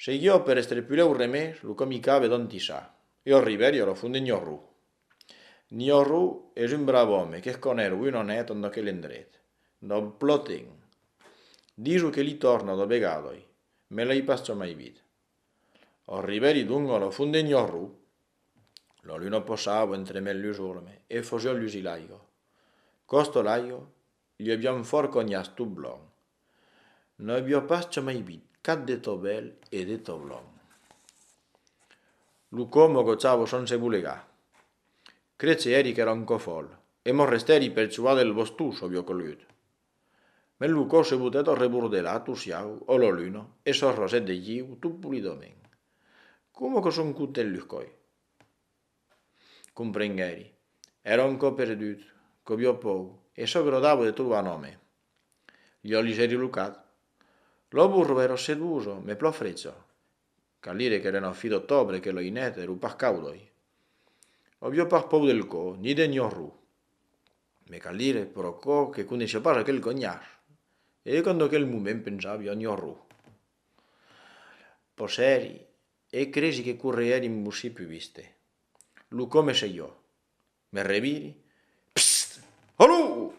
Sei jo per estrepuleu remè lo comica vedon tissa. Jo river jo lo fon de Gnorru. Gnorru es un brave òme qu'eth conèr ui non hèt ondo aquel endret. Lo ploten. Diso que li torna do vegadoi, me l'ei pas çò mai vit. Ò riveri donc ò lo fon de Gnorru. Lo luno posavo entre mèn lus orme e fosiò lusi l'aigo. Costo l'aigo? Li aviam fòrt conhas tot blond. Non avió pas jamai vit cap de tot bèl e de tot blond. Lo cò mos gotjava son se bolegar. Crètz se èri qu'èra un cò fòl e mos restèri percuat del bostó s'avió colut. Mès lo cò se botèt al rebordelat o siau o la luna e s'arrosèt de lliu tot polidament. Coma que son content los còi! Comprenguèri. Èra un cò perdut, cobiò pòu, e çò que lo dabo de trobar un òme. Liò ligèri lo cat. Lo burro èra osseduoso, me plò frètzo. Cal dire qu'èra una fi d'ottobre e que lo inèt èra un pach caudoi. Obiò pach pòu del cò, ni de gnorru. Me cal dire, pro cò, que coneishiò pas aquel conhar. E jo qu'en doquel moment pensàvi ò gnorru. Possèri. E cresi que correè dins Bossí pus viste. Lo come se jo. Me reviri, Psst! Alò!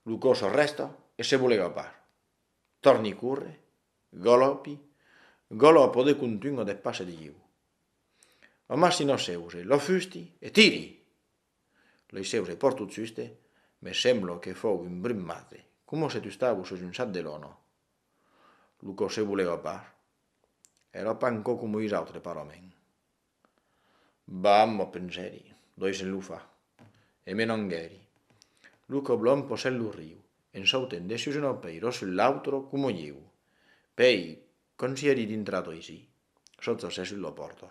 Lo còs arrèsta e se vole gapar. Torni corre, galòpi, galòpo de contunh a de passe de ieu. Amassi na seuse, la fusti e tiri! Lei seuse pòrt tot juste, me semblo que fòu un brun mate, coma se tustavo sus un sat de lona, Lo corsé volèva pas. Èra pas encore coma ois autres parament. Vam, ò pensèri, doisem lo far. E me n'anguèri. Lo coblon posèt lo riu, en sautènt de sus una pèir ò sus l'autre coma ieu. Pèi, quand s'i èri dintrat oisí, sot s'assèt sus la pòrta.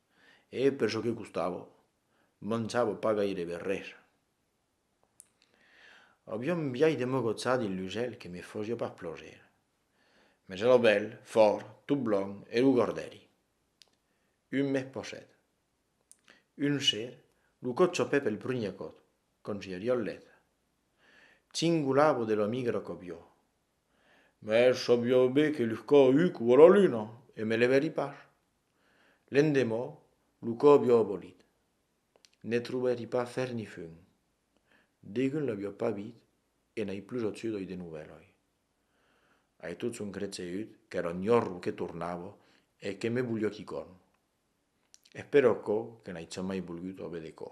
e per çò que costava, manjava pas gairebe res. Aviá un biais de me gotzar dins lo gèl que me fasiá pas plaser, mas èra bèl, fòrt, tot blanc e lo gardèri. Un mes passèt. Un ser, lo còth chapèt pel primièr còth, quand j'i ariá al lèth. Cingolava de la migra qu'aviá. Mas sabiá ben que luscava uc o a la luna e me levèri pas. L'endemò, lo còbi obolit. Ne trobèri pas fer ni fum. Degun l'avió pas vit e n'ai plus otçut oi de novèl oi. Ai tot son creteut qu'èra un jorro que tornava e que me voliá quicòm. Es per aquò que n'ai jamai volgut ove de cò.